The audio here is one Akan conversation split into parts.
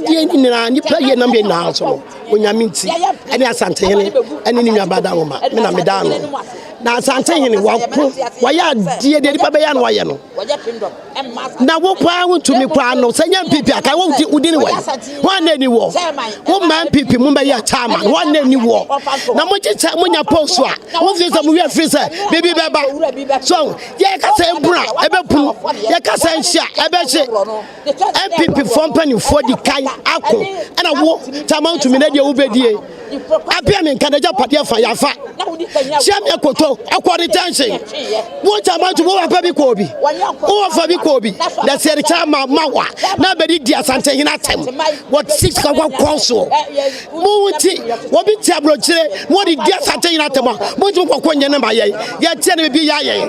Deɛ nyinaa nipa yɛ nam yɛ nyinaa so no onyame nti ɛne asantehene ɛne ne nuabaa da nwoma me na meda ano na asantehene wako wayɛ adeɛ deɛ nipa bɛyɛ no wayɛ no na wo paa wontumi paa no sɛ nyɛ mpipi aka wodi ne wɔ ho anna ani wɔ wo mmaa mpipi mu bɛyɛ chairman ho anna ani wɔ na mogye kyɛ monya post a mofi sɛ mo werɛ firi sɛ biribi bɛba so yɛka sɛ mbura ɛbɛpunu yɛka sɛ nhyia ɛbɛhye npp-foɔ mpanimfoɔ di kan ako ɛna wo tama ntumi na deɛ wobɛdie abea me nka n'agya padeɛ fa yafa kyia me akoto akɔ retention wo tama ntumi wowapa bi kɔɔ bi wowafa bi kɔɔ bi na sɛ ɛrekyɛ ma ma wa na bɛde di asantehene atɛm wɔ six kakɔ kɔn soɔ mo nti wɔbi te aburokyire na wɔde di asantehene atɛm a mo ntumi kɔkɔ nyɛ ne ma yɛn yɛteɛ ne bɛbi yɛ ayɛn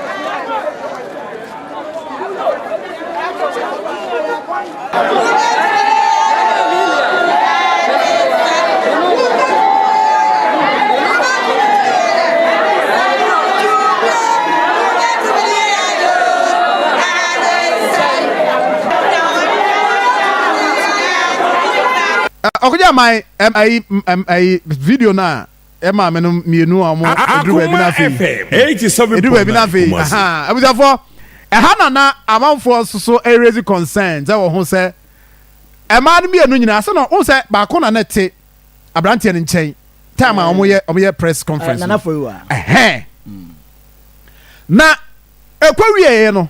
ɔkɔgya man ɛm ɛyi ɛm ɛyi video no a Ẹ maame no mmienu a wɔn eduru baabi na afei. Eduru baabi na afei ahaa abusuafoɔ ɛha na na amanfoɔ nso so ɛrezi concern sɛ wɔ ho sɛ ɛmaa no mmienu nyinaa ase no wɔn sɛ baako na na ɛte aberanteɛ no nkyɛn time a wɔn yɛ wɔn yɛ press conference no ɛhɛn na ɛkɔ wieɛ no.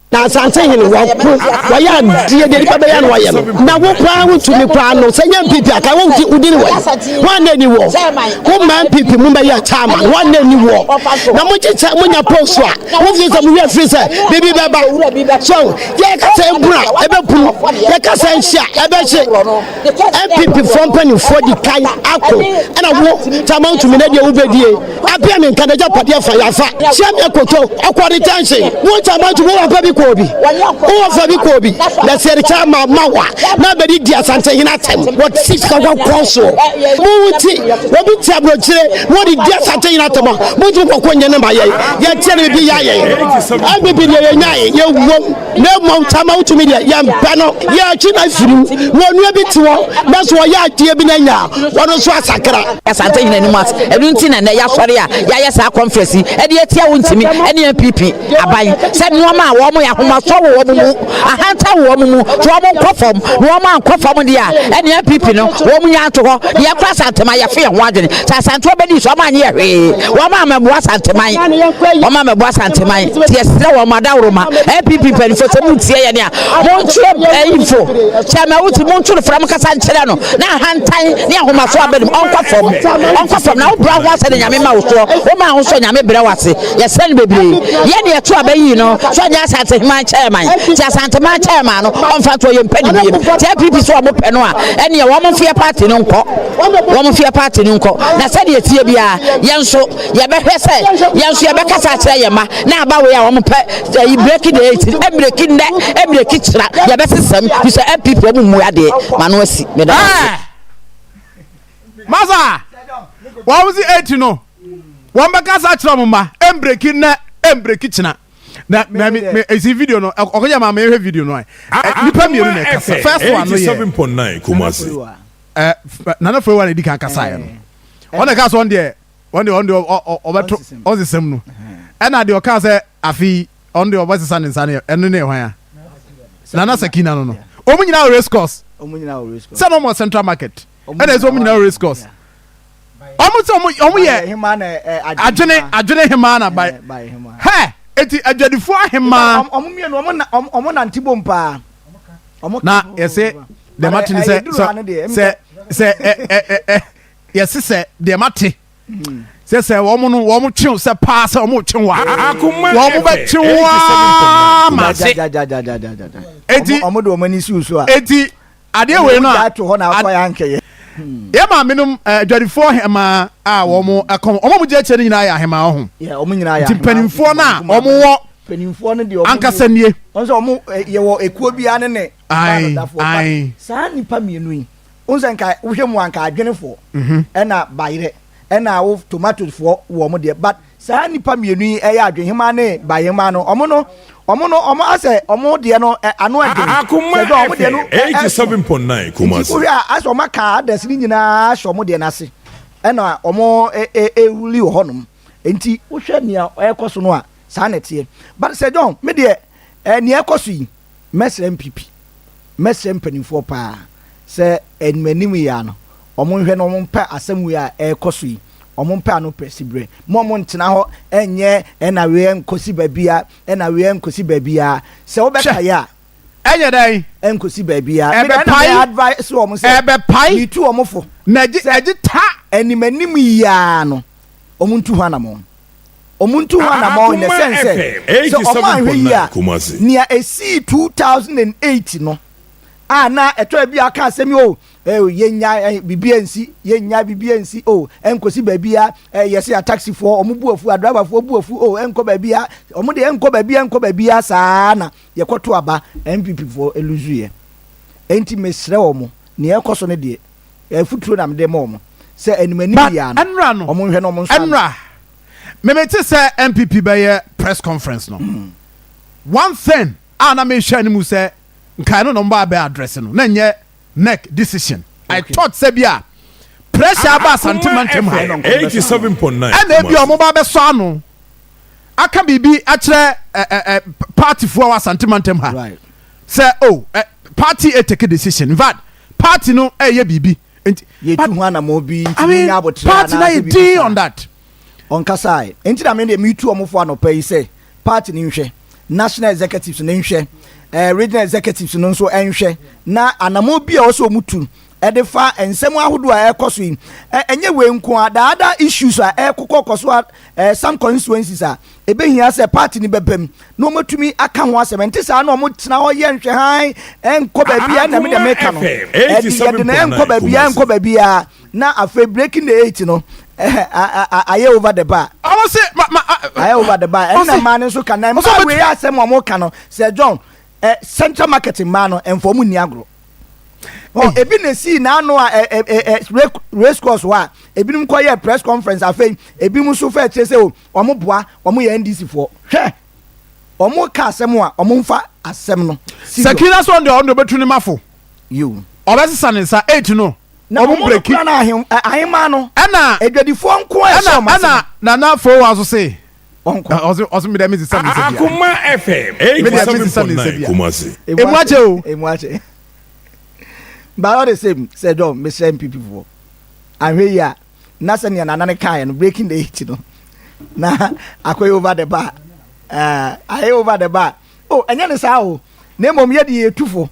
Na asase hene wɔko wɔyɛ adeɛ deɛ nipa bɛyɛ no wɔyɛ no na wo koraa wo tumi koraa no sɛ nyɛ mpipi aka wo nti wodini wɔ wɔn na ni wɔ wo mmaa mpipi mu bɛyɛ kyama wɔn na ni wɔ na mo gye sɛ mo nya post a mo fi sɛ mo wia firi sɛ bibi bɛba so yɛ kasa ebura ebɛpum yɛ kasa nhyia ɛbɛhye mpp fɔ mpanimfoɔ di kan ako ɛna wo kyama tumi na deɛ wobɛdie Abia ne nka n'agyapadeɛ fa yɛ afa. Hyia me akoto ɔkɔ retention. Wo nkyɛn ma nti wowɔ fa bi kɔɔ bi. Wowɔ fa bi kɔɔ bi. Na sɛ yɛrekyɛ ama ma wo a, na abɛdi di Asantehene atɛm. Wɔte sika kɔkɔɔ soɔ. Mo nti, obi te aburokyire na ɔde di Asantehene atɛm a, mo nti mo kɔkɔ nyɛ ne ma yɛn. Yɛteɛ no biribi yɛ ayɛ yɛn. Ɛne bi deɛ yɛnyaeɛ, yɛwuom. na mmom tama wotumi deɛ yɛmpɛ no yɛakyi no afiri mu na onua bi te hɔ na so ɔyɛ adeɛ bi no anya a ɔno nso asakra asante nyina anim ase ɛno nti na nnɛ yɛasɔre a yɛayɛ saa conference yi ɛde atia wo ntimi ɛne npp aban sɛ nnoɔma a wɔn yɛ ahomasɔ wɔ wɔn mu ahanta wɔ wɔn mu nti wɔn nkɔ fam na wɔn ankɔ fam deɛ a ɛne npp no wɔn nya ato hɔ deɛ ɛkɔ asantema yɛfe yɛn ho adwene sɛ asantewa bɛdi so wɔn anyɛ hwee wɔn amammoa asanteman wɔn amammoa asanteman Yɛsrɛ wɔn adaworoma, NPP mpanyinfoɔ sɛ mo ntie yɛn a, mo ntwerɛ bɛyinfo, Chairman Wuti, mo ntwerɛ frɛ mo kasa nkyerɛ no, na ahantan ne ahomaso aba ne mu, ɔnkɔ fam, ɔnkɔ fam, na wo brɛ ho ase na Nyame ma wo soɔ, wo ma ho soɔ Nyame brɛ wo ase, yɛsrɛ no bebree, yɛn na yɛto aba yi no, sɛ ɔnyɛ Asanteheman Chairman, nti Asanteman Chairman no, ɔnfa ntoɔ, yɛn mpɛ ne biem, nti NPP sɛ wɔn pɛ no a, ɛneɛ wɔn mfeɛ party no nkɔ, wɔn mfeɛ party no nkɔ, na sɛdeɛ ɛteɛ biara, yɛn nso. yɛbɛhwɛ sɛ yɛn nso yɛbɛkasa akyerɛ yɛn mma na aba wei a wɔn pɛ ɛyi breki de eti ebreki nnɛ ebreki kyerɛ yɛbɛsesam fi sɛ npp wɔn mu adeɛ ma no asi meda ase. masa wɔn si eti no wɔn bɛkasa akyerɛ wɔn mma ebreki nnɛ ebreki kyerɛ na na mi mi esi video no ɔkò yɛ maa mi ehwɛ video no ayi nipa mienu na ɛkasa first one no yɛ ɛɛ nana fure wa na edi kan kasa yɛ no ɔna ɛka so ɔn deɛ. wɔn deɛ wɔn deɛ ɔbɛto ɔnsesam no ɛna deɛ ɔka sɛ afei ɔno deɛ ɔbɛsesa ne nsa no ɛno ne hwan a nana sakina no no wɔn nyinaa wɔ race course sɛ na wɔn central market ɛna ɛsɛ wɔn nyinaa wɔ race course wɔn sɛ wɔn yɛ adwene adwene hemaa na bae hɛ eti adwadifoɔ ahemaa wɔn mmienu wɔn nante bom paa na yɛsɛ dɛm ate ne sɛ sɛ sɛ sɛ ɛ ɛ ɛ yɛse sɛ deɛ mate sɛ sɛ wɔn no wɔn twe sɛ paa sɛ wɔn twe wa wɔn bɛ twe wa ma se eti wɔn de wɔn ani si so a eti adeɛ wei no a yɛ maa minum adwadifoɔ hɛmaa a wɔn ɛkɔm wɔn a wɔn gyina akyire no nyinaa yɛ ahɛmaa ɔho nti mpanimfoɔ no a wɔn wɔ mpanimfoɔ no deɛ ankasa nie wɔn sɛ wɔn yɛwɔ ekuo biara ne ne baanodafo saa nipa mmienu yi. Wohu sɛ nka wohwɛ mu a nka adwene foɔ ɛna bayerɛ ɛna wo tomatoes foɔ wɔ ɔmo deɛ but saa nnipa mmienu yi ɛyɛ adwenhemaa ne bayerhemaa no ɔmo no ɔmo no ɔmo asɛ ɔmo deɛ no ɛ ano ɛdwene sɛ dɛ ɔmo deɛ no ɛ ɛso nti wohwɛ a asɛ ɔmo aka others no nyinaa ahyɛ ɔmo deɛ no ase ɛna ɔmo ɛ ɛ ɛruli wɔ hɔ nom nti wohwɛ nea ɛɛkɔ so no a saa na ɛteɛ but sɛ John me deɛ ɛ nea ɛɛkɔ so yi Mɛsrɛ mpp, mɛsrɛ mpaninfoɔ paa sɛ animanim yi ara no, wɔn nhwɛ na wɔn mpɛ asɛm wei a ɛrekɔ so yi, wɔn mpɛ ano pɛ siberɛ. Mo wɔn ntena hɔ nyɛ ɛna wei ɛnkɔ si baabia, ɛna wei ɛnkɔ si baabia. Sɛ wo bɛka yɛ a, ɛnyɛ dɛn? Ɛnkɔ si baabia. Ɛbɛ pae. Mɛ advice wɔn sɛ, ɛbɛ pae. Mitu wɔn fo. Mɛ ɛgye ta. Animanim yi ara no, wɔn ntu ho anamɔn. ɔmo ntu ho anamɔn nnɛ sɛn sɛ sɛ ɔmo anhwɛ yie a nea esii two thousand and eight no a na ɛtɔ ebi aka asɛm yi o oh, eh, oh, yɛnya eh, biribi ansi yɛnya biribi ansi o oh, ɛnkɔsi baabi a eh, yɛsɛ yɛ taxifoɔ ɔmo bu afu adrabafoɔ bu afu o ɛnkɔ baabi a ɔmo de ɛnkɔ baabi a ɛnkɔ baabi a saa na yɛkɔto aba npp foɔ eluzu yɛ enti mesrɛ wɔn nea ɛkɔ so no deɛ Afuturo na mede ma wɔn sɛ anim anim biara no, ɛnora no, wɔn nhwɛ na wɔn nso ano. Ɛnora, me me te sɛ NPP bɛyɛ press conference no, mm. one thing a na me hwɛ ne mu sɛ nkae no na wɔn ba abɛ address no, na nyɛ NEC decision. Okay. I thought sɛ bi a pressure aba asante mantam ha. Eighty seven point nine. Ɛna ebi a wɔn ba abɛsɔ ano aka biribi akyerɛ ɛ ɛ ɛ party foɔ wɔ asante mantam ha. Right. Sɛ o oh, ɛ eh, party etake decision in fact. Party no ɛyɛ biribi nti. Yɛtu ho anamɔn bi nti mo nya aboterɛ anaasɛ biribi saa. I mean party no ayɛ dinn on that. Ɔnkasae. Nti na me deɛ me tu ɔmo fo anɔpa yi sɛ party no nhwɛ, national executives no nhwɛ, ɛɛ regional executives no nso nhwɛ na anamɔn bi a ɛwɔ sɛ ɔmo tu de fa nsɛm ahodoɔ a ɛrekɔ so yi. Ɛnyɛ wei nko ara, the other issues a ɛrekokɔ kɔ so a, ɛɛ some constituencies a Ebehia sɛ paati no bɛbam na wɔatumi aka ho asɛm. Ɛnte saa na wɔtena hɔ yɛ nhwɛhan, ɛnkɔ baabiara. Ɛnna me deɛ meka no, ɛde yɛde no ɛnkɔ baabiara, ɛnkɔ baabiara, na afei breaking the eight no, ayɛ over the bar. Ayɛ over the bar. Ɛnna mmaa no nso ka na mmaa wei asɛm a wɔka no sɛ John eh, central market mmaa no ɛnfɔ mu nni agorɔ. Oh, ebi na esi n'ano a eh, eh, eh, race course hɔ a ebinom kɔ yɛ press conference afei ebinom nso fɛ kyerɛ sɛ o. Oh, Wɔn boa wɔn yɛ NDC foɔ hwɛ wɔn ka asɛm a wɔn nfa asɛm no. Sakina sɔn deɛ ɔno deɛ ɔbɛtu ne mafo ɔbɛsesa ne nsa eight no wɔn breki ahema no ɛna adwadifoɔ nko ɛhyɛ wɔn ase ɛna nana fo wa nso se ɔse ɔse mi deɛ mi sisa mi nsa bia akoma fm eight mi deɛ mi sisa mi nsa bia emu akyɛ o emu akyɛ but all the same sɛ dɔn mesrɛ mpp foɔ ahwɛ yi a. na sɛnea nana no kaeɛ no breaking the eight no na akɔyɛ over the bar uh, ayɛ over the bar oh ɛnyɛ ne saa o na mmom yɛ deɛ yɛtu fo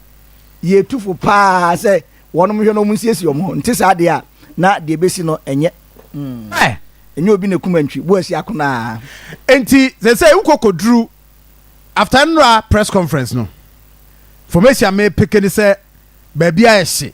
yɛtu fo paa sɛ wɔnom hwɛ no ɔmo nsiesie ɔmo ho nte saa deɛ a na deɛ bɛsi no ɛnyɛ mm. eh. ɛnyɛ obi na kuma ntwi bo asi akonaa nti sɛ sɛ wokɔkɔduru after nnora press conference no formation me peke ne sɛ baabi a ɛhye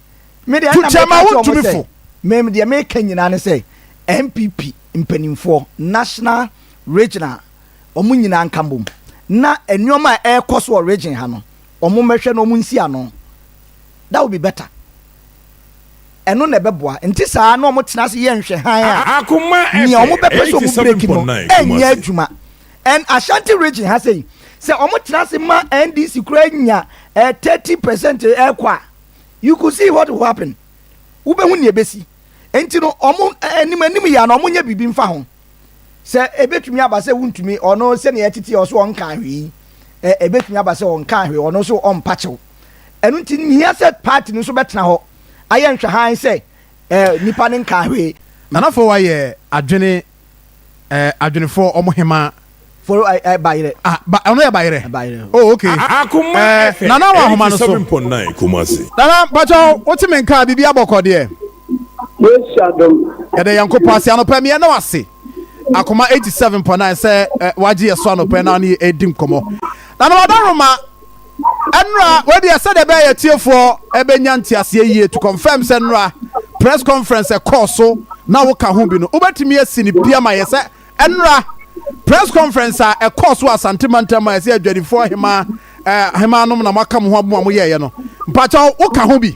To kyɛma wo ntumi fo. Me deɛ meka nyinaa ne sɛ NPP mpanimfoɔ national regional wɔn nyinaa nka mbom na nneɛma a ɛrekɔ so wɔ region ha no wɔn mmɛhwɛ na wɔn nsi ano that would be better ɛno na ɛbɛboa nti saa na wɔn tena ase yɛ nhwɛhan a nea wɔn bɛpɛ so wɔn break no ɛnyɛ adwuma and Ashanti region ha sɛ sɛ wɔn tena ase ma NDC kura nya eh, thirty percent ɛkɔ eh, a You could see what will happen. Wobɛhu nea ɛbɛsi. Enti no, wɔn anim anim yɛ na wɔnyɛ biribi mfa ho. Sɛ ɛbɛtumi aba sɛ wontumi, ɔno sɛnea ɛtete ɔso ɔnkaa hwee. Ɛbɛtumi aba sɛ ɔnkaa hwee, ɔno nso ɔmpa kyɛw. Ɛno nti, nhia sɛ party no nso bɛtena hɔ ayɛ nhwɛhan sɛ nipa no nkaa hwee. Nana Fowa yɛ adwene ɛɛ adwenefo ɔmo hemaa. Foro ɛ ɛ bayerɛ. Ah ba ɔno yɛ bayerɛ. Bayerɛ o. Oh okay. A akoma ɛɛ ɛhɛ. Nana wɔ ahoma no so. 87.9 Kumasi. Nana mpatsɔ wote me nka biribi abɔkɔ deɛ. Yesu adom. Yɛda Nyankopɔn ase anɔpa mi yɛda wo ase akoma 87.9 sɛ wagye yɛ so anɔpa na ɔne yɛ edi nkɔmɔ. Nana ɔda roma. Nnora, wei deɛ sɛdeɛ ɛbɛyɛ atiefoɔ bɛnya nteaseɛ yie to confirm sɛ nnora press conference ɛkɔɔ so na woka ho bi no wobɛtumi asi no pi ama yɛ sɛ nnora press conference a ɛkɔɔ so wɔ Asante mantam a ɛsɛ adwadifoɔ hemaa eh, hemaa nom na moaka mo ho abom a moyɛeɛ no mpakyɛw woka ho bi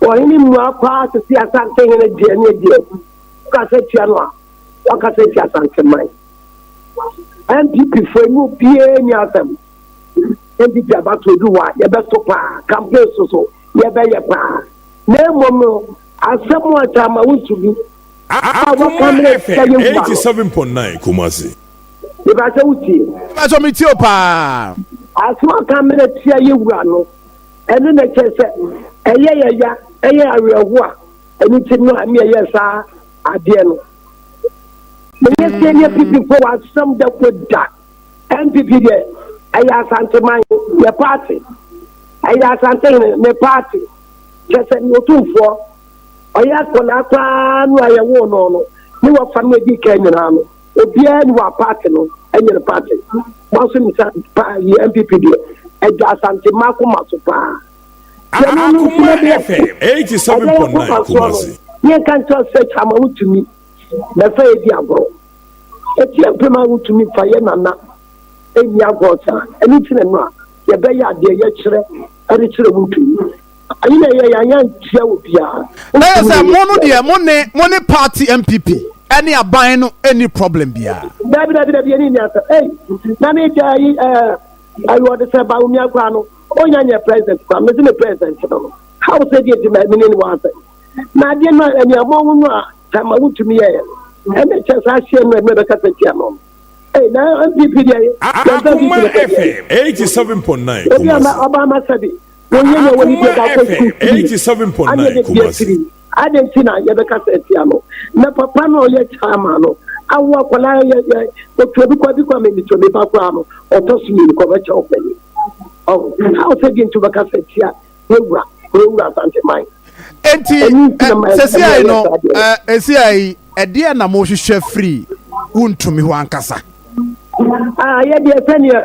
Ɔhene mmuae paa te sɛ Asantehene deɛ ne deɛ agu. Wokasa tia no a, wakasa tia Asanteman. NPP foɔ mu obiara nni asɛm. NPP abatoɔ du hɔ a, yɛbɛto paa, campaign so so yɛbɛyɛ paa. Na mmom no, asɛm a ɛtaa ma wo nsu bi a wɔka mmerɛ sika yɛ wu ano. 87.9 Kumasi. Mebakyɛ wotie. Mebakyɛ metie o paa. Asɛm a wɔka mmerɛ tia yɛ wu ano. ɛno na ɛkyerɛ sɛ ɛyɛ yɛ ya ɛyɛ awerɛho a ɛno nti no a ne ɛyɛ saa adeɛ no meyɛ sɛ ne ppifo wɔ asɛm da ko da mpp deɛ ɛyɛ asanteman yɛ paate ɛyɛ asantehene ne paate kyɛ sɛ ne ɔtumfoɔ ɔyɛ akɔnaa koraa no a yɛwoo no no ne wɔfa no adi ka nyinaa no obiara ni wa party no ɛnyɛ ne party mo nso nim sɛ paa yi npp deɛ ɛda asante mmaa koma so paa deɛ no no nso na bi ɛte ɛdeɛ yɛ koma so ano yɛn ka nkyɛn sɛ kyama wotumi bɛfɛ yɛ di agorɔ eti ɛpem a wotumi fa yɛ nana ɛnni agorɔ saa ɛni ti na no a yɛbɛyɛ adeɛ yɛkyerɛ ɛde kyerɛ wotumi. ayi na ɛyɛ yɛn yɛn nkyerɛ wɔ biara. ɛyɛ sɛ mo no deɛ mo ne mo ne party npp ɛne aban no ɛni problem biara. dabi dabi dabi ɛni ni asa ɛyi na mi gya ayi ɛɛ ayi ɔde sɛ ba omi akora no ɔnya nyɛ president kora mi si mi president no how sɛ di eti ma ɛmi ni ni wɔn asɛ na adeɛ no ɛni ɛmɔ ho no a tɛma ho tumi yɛ ɛna kyɛ saa ahyɛ no ɛmi ɛbɛka sɛ tia no ɛyi na npp deɛ yɛ yɛn sɛ bi ti na ɛfɛ. Akuma FM 87.9 Kumasi. wɔnyɛ nea wɔne bi ɛda kɔ sukuu firi adeɛ de bi afiri adeɛ nti na yɛbɛka sɛ atia no na papa no ɔyɛ chairman no awo akwadaa yɛ yɛ otuo bi kɔ bi kɔ amemi tuo mi ba koraa no ɔtɔ so mmienu kɔ bɛkyɛ ɔpɛni ɔwɔ ha ɔsɛ di nti bɛka sɛ atia ewura ewura asante man. eti sɛsi ayi no esi ayi ɛdeɛ na mo hwehwɛ firi wuntumi hɔ ankasa. ayɛ deɛ sɛdeɛ.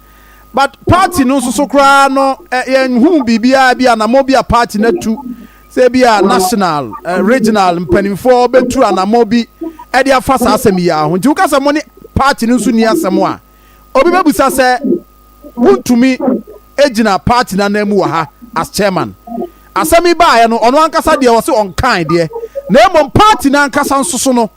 but party no nso so koraa no yɛnhuu biribiara bi anamɔ bi a party no atu sɛ bi a national regional mpanimfoɔ bɛtu anamɔ bi ɛde afa saa asɛm yi ara ho nti woka sɛ mo ne party no nso ni asɛm a obi bɛbusa sɛ wontumi gyina party no anan mu wɔ ha as chairman asɛm yi baeɛ no ɔno ankasa deɛ ɔse ɔnkae deɛ na mmom party no ankasa nso so no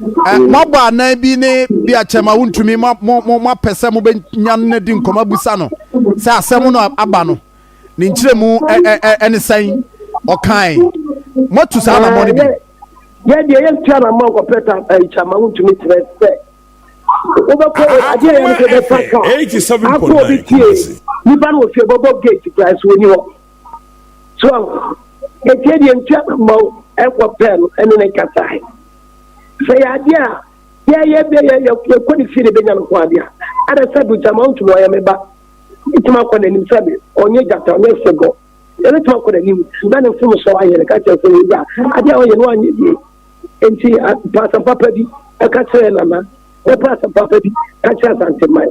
moabɔ anan bi ne bi a kyɛma wontumi moapɛ sɛ mobɛnya no di nkɔmmɔ abusa no sɛ asɛm no aba no ne nkyerɛmu ne sɛn ɔkae moatu saa anammɔ no bi yɛdeɛ yɛntua na mma nkɔpɛ ta kyɛma wontumi kyerɛ sɛ wobɛkɔ adeɛ yɛ no sɛ bɛfa ka akɔ obi tie nipa no wɔ fie bɔbɔ gate kora so wɔni hɔ so ɛtiɛ deɛ nti a mema wo ɛnkɔ pɛɛ no ɛne ne nkasae sɛ yɛ adeɛ a yɛyɛ bɛ yɛkɔ ne fie ne bɛnya no ho adeɛ a ɛdɛ sɛ do gyama ntom ɔyɛ me ba ɛtumi akɔ n'anim sɛ me ɔnyɛ gyata ɔnyɛ sɛgɔ ɛbɛtumi akɔ n'anim na ne mfom sɔ ayɛ no ka kyerɛ sɛ yɛwura adeɛ a ɔyɛ no anyɛ yie nti paasɛm papa bi ɛka kyerɛ nana na paasɛm papa bi ka kyerɛ asanteman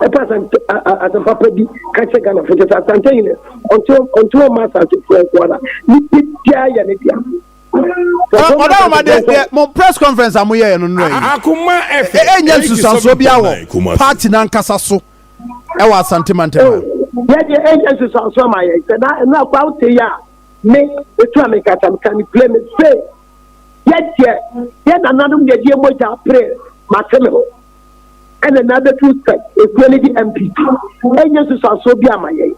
ɔpɛ asante asɛm papa bi ka kyerɛ ghana fo kyɛ sɛ asante yi no ɔnto ɔma asante foɔ nko ara ne bibiaa yɛ ne dea ɔda wɔn adeɛ deɛ mo press conference a mo yɛ yɛ no nnura yi ɛnyɛ nsusuansoɔ bi awɔ party n'ankasa so ɛwɔ asante mantam a. yɛ deɛ ɛnyɛ nsusuansoɔ ma yɛ sɛ na ɛnu akɔ awo te yɛ a me etu a me kasa me ka ne pire me se yɛ deɛ yɛ nananom yɛ deɛ mogya pire ma se me ho. ɛna na abɛtu sɛ ekuo no de MP ɛnyɛ nsusuansoɔ bi ama yɛn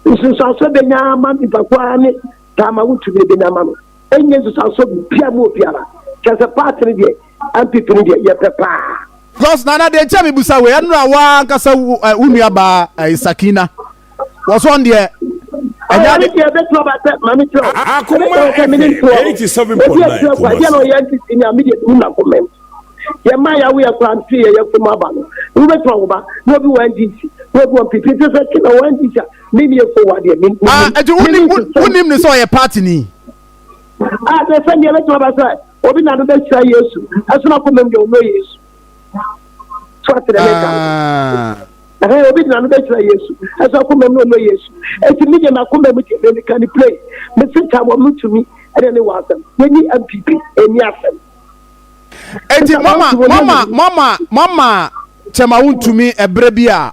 nsusuansoɔ bɛnya ama nipakuo ara ne taama wo tumi bɛnya ama no ɛnyɛ nsusuansoɔ bia mu obiara kyɛ sɛ paati no deɛ MP no deɛ yɛpɛ paa. Because nana deɛ nkyɛn mi busa wei ɛnura waa nkasa wo nua baa ɛyɛ Sakina. wɔsɔn deɛ ɛnyɛ ade deɛ ɛbɛtu aba sɛ maame kyerɛ o akoma ɛbɛtu ɛmɛ ne ntoɔ eighty seven point nine ɛbɛtu ɛkɔ ɛdeɛ na ɔyɛ ntisi ni ami deɛ tu na kɔmɛ yɛ mma yɛ awo yɛ kora nti yɛ yɛ fom aba no wo bɛtu ɔwo ba na obi wɔ ndc na obi wɔ npp nti sɛ ti na wɔ ndc a mi ni efo wa deɛ mi ni mi ni ɛti wunim wunim ni sɛ ɔyɛ paati ni. a sɛ sɛ deɛ ɛbɛtu aba sɛ obi na do bɛ sira yesu ɛsɛ na kɔmɛ mi deɛ ɔno yesu. so ate dɛ meka no obi gyina no bɛkyerɛ yesu ɛsɛ ɔkoma mu ɔno yesu ɛti me deɛ makoma mu deɛ meka ne play mese ta wɔ mo tumi ɛne ne wɔ asɛm yɛni mpp ɛni asɛm ɛti mama mama mama mama kyɛma wo ntumi ɛberɛ bi a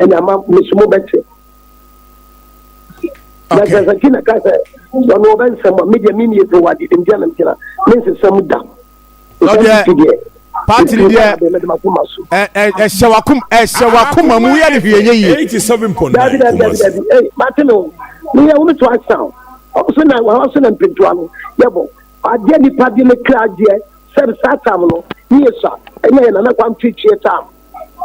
ɛna ama me so mobɛte na Okay. sɛ saki na ka sɛ ɔno ɔbɛ nsɛm a medeɛ meni ɛfiri wɔ ade demdeɛ na megyina mensesɛm da Ɔdeɛ, Ɛsɛ deɛ, party mfiri deɛ, bɛbɛ mede makoma so Ɛ- ɛ- ɛhyɛ wakoma ɛhyɛ wakoma mu yɛ ne hwee nyɛ yie eighty seven point dabi nine dabi dabi kumasi. dabi ei mate ne o meyɛ wo meto asa o ɔmo so na wɔn so na mpentua no yɛbɔ adeɛ nipa de ne kra adeɛ sɛbi saa tam no ne yɛ sa ɛnyɛ yɛ nana kwan tweetwee tam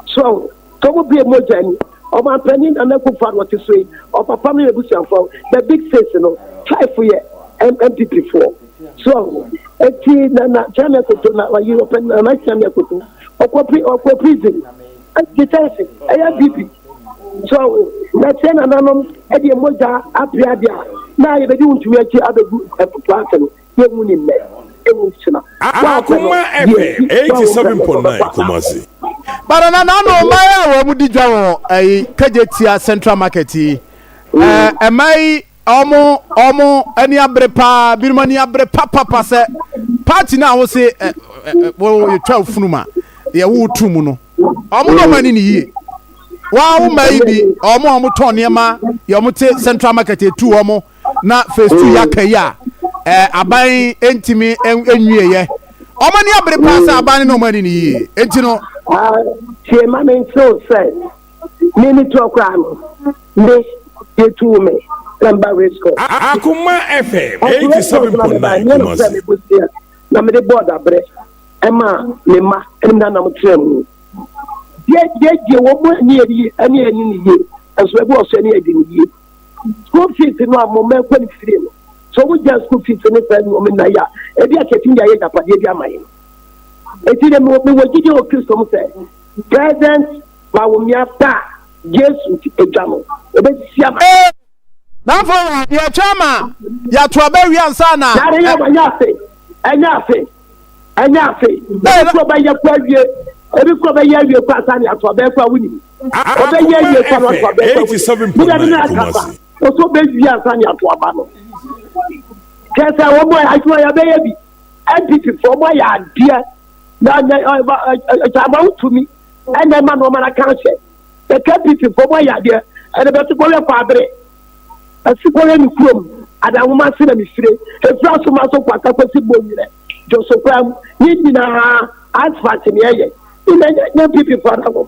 So sɛ ɔmo bie mogya ni ɔmanpanin nana akufo ado ɔte so yi ɔpapa no yɛ busuafo the big six no five yɛ npp foɔ so eti nana kyɛnɛ koto na ɔyi ɔpɛ nana kyɛnɛ koto ɔkɔ pri ɔkɔ prison ɛti kyɛnse ɛyɛ bibi so na sɛ nananom ɛdi mogya apia deɛ na yɛbɛdi ntumi akyi abɛgu ɛpo ase no. yɛnwu ne nnɛ, ɛnwu nkyena. Akoma ɛpɛ eighty seven point nine Kumasi. But na nano mmaa yi a wɔn di dwa wɔ ɛyi Kagyetia central market yi ɛɛ mmaa yi wɔn wɔn ani abere paa binom ani abere papapa sɛ party no a wɔsi ɛ ɛ wɔyɛ twa ofunu ma deɛ wɔwɔ tu mu no wɔn na wɔn ani ne yie wɔn a wɔn mmaa yi bi wɔn a wɔn tɔn nneɛma deɛ wɔn te central market etu wɔn. na phase two yɛaka yi a eh, aban ntumi nwieɛ ɔma ani abere paa sɛ aban ne na ɔma ani no yie enti no tie ma me nkyerɛw sɛ me ne toɔ koraa no me yɛtuu me na mba resco akoma fm 87.9 kumase na mede bɔɔ daberɛ ɛma me mma ɛne na nam kyerɛ mu deɛ deɛ deɛ wɔn mu ani yɛ ɛne ɛne ne yie nso ɛbi wɔ so ɛne ɛde ne yie school fees no a mo mma ɛkɔ ne fie no sɛ wɔn gya school fees ne saa nneɛma nyinaa yɛ a ebi a kɛtɛm de ayɛ agyapadeɛ bi ama yɛn eti de mo mewɔ gyidi wɔ kristo mu sɛ present ma wo mmea ba yesu ti edwa no ebesisi ama. ee na afɔ wa yɛ twɛ ama yɛato aba wi ansa na. yare yɛ wa nyɛ ase ɛnyɛ ase ɛnyɛ ase ebi kura bɛ yɛ kura wie ebi kura bɛ yɛ wie kura ansa na yɛato aba kura wunim. Ɔbɛyɛ yie papa so abɛɛfo awo yɛ. Meda bi na aka ba. Ɔsɔ bɛ wie ansa ne ato aba no. Kyɛ sɛ wɔn a adwuma yɛ bɛyɛ bi. NPP fo wɔn ayɛ adeɛ. Na na ɛkyama wo tumi. Ɛna ɛma na wɔn ara kan hyɛ. Na KPP fo wɔn ayɛ adeɛ. Ɛna bɛsi kɔyɛ kɔ abere. Ɛsi kɔyɛ ne kurom. Adanwoma se na mefire. Efiri asoma so kɔ asakwasi bɔ nyina. Josopam. Ne nyinaa asfalt ne ɛyɛ. Ina nyɛ NPP fo adanwoma.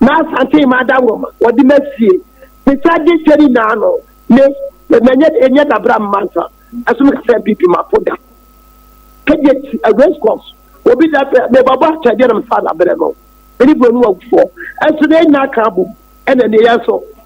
na asante ma ada nwoma wɔde ma sie ne sa de kyɛ ne naa no ne na nyɛ nyɛ dabra mma nsa ɛso no kasa bi bi ma po da kɛgye ti a race course obi da bɛ ne baba kyɛ deɛ nam sa da brɛ no ɛne bro no wɔ fɔ ɛso ne nyɛ aka abom ɛna ne yɛ so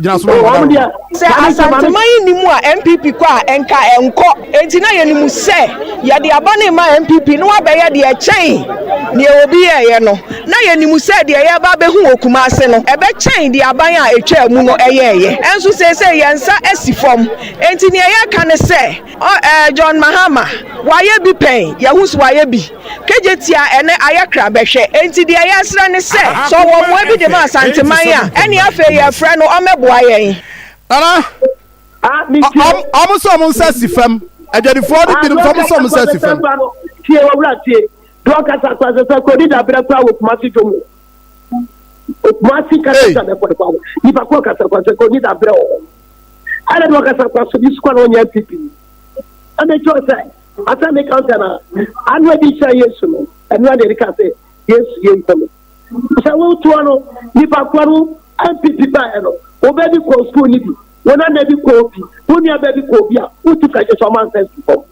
gyina so ma wɔn wɔn deɛ sɛ asantema yi ni mu a npp kɔ a nka ɛnkɔ enti na yɛnim sɛ yɛde aba ne ma npp na wabɛyɛ deɛ ɛkyɛn deɛ obi yɛɛyɛ no na yɛnim sɛ deɛ yɛba bɛhu wɔ kuma ase no ɛbɛkyɛn deɛ aban a ɛtwaa mu no ɛyɛɛyɛ ɛnso seesei yɛn nsa asi fam enti neɛ yɛka ne sɛ Ɔ ɛɛ John Mahama, wayɛ bi pɛn? Yɛahu sɛ wayɛ bi. KJ tia ɛnɛ ayɛ kra bɛhwɛ. Enti deɛ yɛresrɛ ne sɛ, sɛ ɔwɔ mmoa bi de ma Asanteman a, ɛnneɛ afei yɛrefrɛ no ɔmmɛboa yɛn. Nana, ɔ ɔmo sɛ ɔmo nsa si fam. Adwadifoɔ no binom sɛ ɔmo sɛ ɔmo nsa si fam. Tie owura tie. Deɛ ɔkasa kora sɛ sɛ kodi dabrɛ kora wɔ Kumasi dwom o. Kumasi kasa kasa kora nipa koro kasa kora sɛ kodi dabrɛ wɔ hɔ. ɛna ne ɔkasa kɔ so bi sukɔ na ɔnyɛ npp ni ɛna ɛkyɛ ɔsɛ asɛ ne kansa na ano ɛdi kyerɛ yesu no ɛno ɛna ɛdi ka sɛ yesu yɛ nkɔmɛ sɛ wotoɔ no nipa kɔ no npp ba ɛno wɔbɛ bi kɔ sukuu ni bi wɔn ana bi kɔ obi wɔn nua bɛ bi kɔ obi a wotu fɛ kyɛ sɛ ɔmo ansɛ sukuu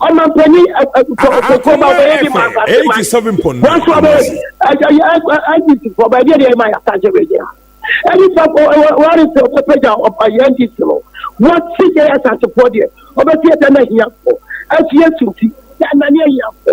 ɔmampanyin ɛkɔkɔkɔ ba ɔbɛyɛ de ma asase ma wɔnso ɔbɛyɛ ndc fɔ ɔbɛyɛ deɛ deɛ ma asase bɛ gyina ɛni fɔ wɔre sɛ ɔbɛpɛgya ɔbɛyɛ ndc no wɔsi yɛ asase fɔ deɛ ɔbɛsi ɛdɛ na hia fɔ ɛsi ɛsunti yɛ anani ɛhia fɔ.